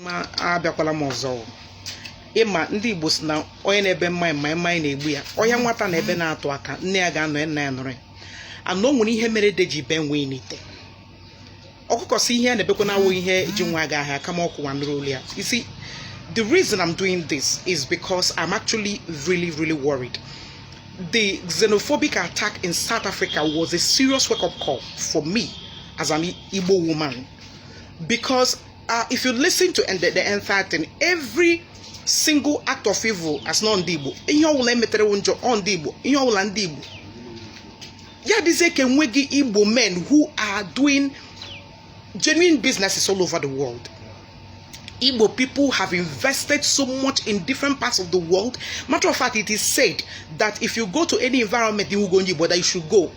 ma abịakwala m ọzọ ịma ndị igbo si na onye na-ebe mmanya ma mmanya na-egbu ya ọya nwata na-ebe na-atụ aka nne ya ga-anọ ya nna ya nọrọ ya na o nwere ihe mere ede ji bee nwii n'ite ọkụkọ si ihe a na-ebekwa na awụghị ihe ji nwa ya ga-aha ya kama ọ ka ụwa nụrụ olu ya you see the reason i'm doing this is because i'm actually really really worried the xenophobic attack in south africa was a serious wake-up call for me as an igbo woman because Uh, if you listen to the, the entire thing, every single act of evil asị na ọ ndị Igbo ihe ọbụla e metere wụ njọ ọ ndị Igbo ihe ọbụla ndị Igbo ya dịzie ka enweghị Igbo men who are doing genuine businesses all over the world Igbo people have invested so much in different parts of the world. Matter of fact, it is said that if you go to any environment ị hụghị onye Igbo, that you should go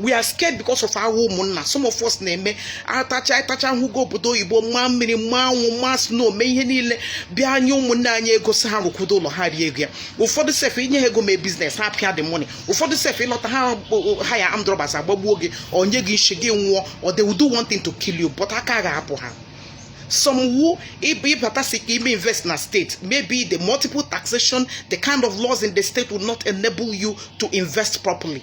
we are scared because of our ụmụnna some of us na-eme atacha atacha ahụhụ n'obodo oyibo ma mmiri ma anwụ ma snow mee ihe niile bịa nye ụmụnne anyị ego si ha rụkwudo ụlọ ha rie ego ya ụfọdụ sef i nye ha ego mee business ha pịa the money ụfọdụ sef ị lọta ha hire armed robbers agbagbuo gị e nye gị nshi gị nwụọ or they will do one thing to kill you but aka ga-apụ ha some who ị bata si ka i mee invest na state maybe the multiple taxation the kind of laws in the state will not enable you to invest properly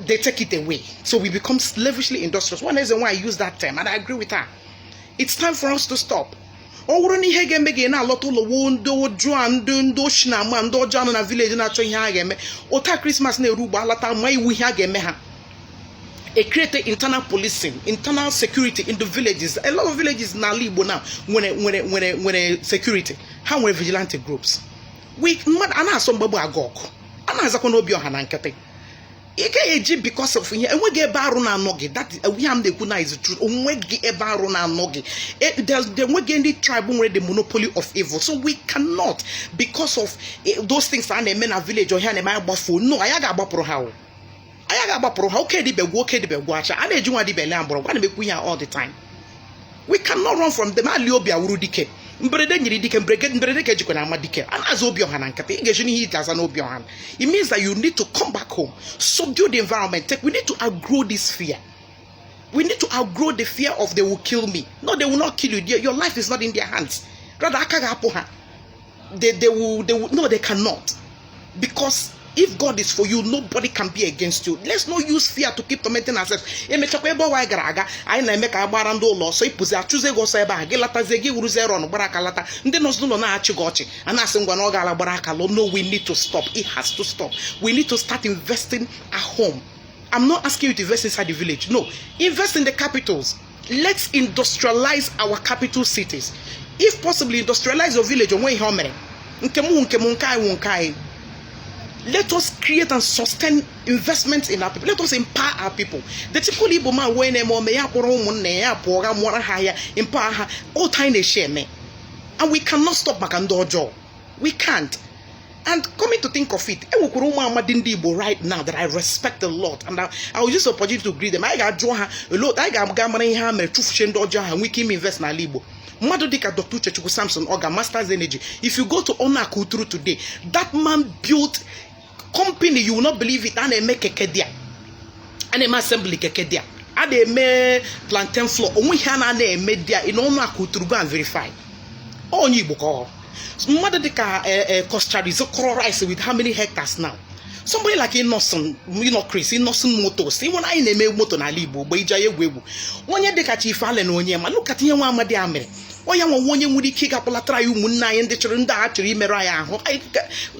they take it away. So we become slavishly industrious. One reason why I use that term, and I agree with her. It's time for us to stop. ọ bụrụ na ihe ga-eme gị na-alọta ụlọ wụ ndị ọjọọ a ndị ndị ochi na ama ndị ọjọọ a nọ na village na-achọ ihe ha ga-eme ụta Christmas na-eru ugbu a lata ma iwu ihe a ga-eme ha e create internal policing internal security in the villages a lot of villages n'ala igbo now nwere nwere nwere nwere security ha nwere vigilante groups ị ma na a na-asọ mgbagbu aga ọgụ a na-azakwanụ obi ọha na nkịtị ị gaghị eji because of ihe enweghị ebe arụ na-anọghị ihe m na-ekwu na is true onweghị ebe arụ na-anọghị e, enweghị ndị tribe nwere the monopoly of evil so we cannot because of e, those things a na-eme na village or ihe a na-eme anyị agbafuo no anyị ga-agbapụrụ ha o anyị ga-agbapụrụ ha oke dibịa agwụ oke dibịa agwụchaa a na-eji nwa dibịa ele mgbọrọgwụ a na-emekwu ihe all the time we cannot run from them ali obi awụrụ dike mberede nyiri dike mberede ka e jikwanụ ama dike a na-aza obi ọha na nkịtị ị ga-eji n'ihe i ji aza n'obi ọha it means that you need to come back home subdue the environment take we need to outgrow this fear we need to outgrow the fear of they will kill me no they will not kill you your life is not in their hands rather aka ga-apụ ha they, they will, they will, no, they cannot. Because if God is for you, nobody can be against you. Let's not use fear to keep tormenting ourselves. emechakwa ebe ọ wụ anyị gara aga anyị na-eme ka agbara ndị ụlọ ọsọ ị pụzi achụzi ego ọ sụọ ebe a gị latazie gị wụrụ zero gbara aka lata ndị nọzi n'ụlọ na-achị gị ọchị a na-asị ngwa na ọ gaala gbara aka lọ no we need to stop it has to stop we need to start investing at home I'm not asking you to invest inside the village no invest in the capitals let's industrialize our capital cities if possible industrialize your village o nwe ihe o mere nke m nke m nke anyị nke anyị let us create and sustain investment in our people let us empower our people the typical igbo man wey na-eme ome ya kpọrọ ụmụnna ya pụọ ga mụọra ha ahịa empower ha otu anyị na-eshi eme and we cannot stop maka ndị ọjọọ we can't And coming to think of it, e nwekwara ụmụ amadi ndị Igbo right now that I respect a lot and I, I will use the opportunity to greet them. Anyị ga-ajụ ha a lot, anyị ga-aga mara ihe ha mere chụfuchie ndị ọjọọ ha nwee ike ime invest n'ala Igbo. mmadụ dịka Dr. Uchechukwu Sampson Ogah Masters Energy if you go to Onuaku Uturu today that man built company you will not believe it a na-eme keke there a na-eme assembly keke there a na-eme plantain flour o nwe ihe a na-ana eme there in Onuaku Uturu go and verify onye igbo ka ọ wụ mmadụ dịka Coscharis kọrọ rice with how many hectares now somebody like Innocent Innocent Chris Innoson Motors ịnwere anyị na-eme moto n'ala igbo mgbe e ji anyị egwu egwu onye dịka Chief Allen Onyema look at ihe nwa amadi a mere ọ ya wụ onye nwere ike ịga kpọlatara anyị ụmụnne anyị ndị chọrọ ndị a chọrọ imerụ anyị ahụ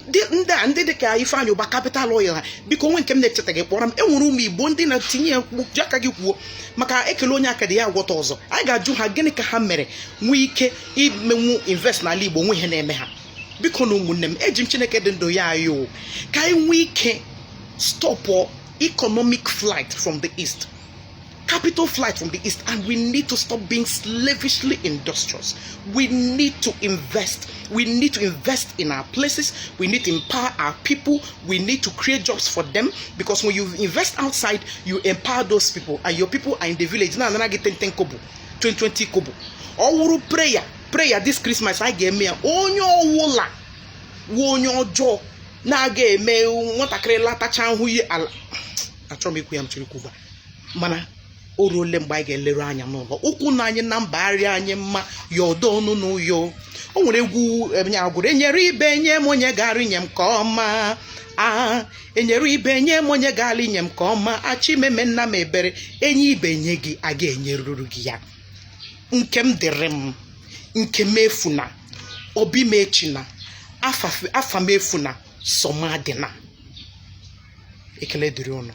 ndị a ndị dịka Ifeanyị Ubah Capital Oil ha biko o nwee nke m na-echetaghị kpọrọ m e nwere ụmụ Igbo ndị na-etinye ya ji aka gị kwuo maka e kelee onye akịdị ya agwọta ọzọ anyị ga-ajụ ha gịnị ka ha mere nwee ike imenwu invest n'ala Igbo o nwe ihe na-eme ha bikonụ ụmụnne m eji m Chineke dị ndụ ya ayọ ka anyị nwee ike stop economic flight from the east capital flight from the east and we need to stop being slavishly industrious we need to invest we need to invest in our places we need to empower our people we need to create jobs for them because when you invest outside you empower those people and your people are in the village na-anara gị 10 10 kobo 20 20 kobo ọ wụrụ prayer prayer this christmas anyị ga-eme ya onye ọwụla wụ onye ọjọọ na-aga eme nwatakịrị latacha nhụ ihe ala achọrọ m ikwu ya m chọrọ ikwu gba mana o ruole mgbe anyị ga-eleru anya n'ụlọ ụkwụ na anyị na mba arịa anyị mma ya dọọ ọnụ n'ụyọ o nwere egwu onye a gụrụ enyere ibe nye m onye gara inye m nke ọma enyere ibe nye m onye gara inye m nke ọma a chi meme nna m ebere e nye ibe nye gị a ga-enyeruru gị ya nke m dịrị m nke m efuna obi m echina afa m efuna sọmadịna ekele dịrị ụnụ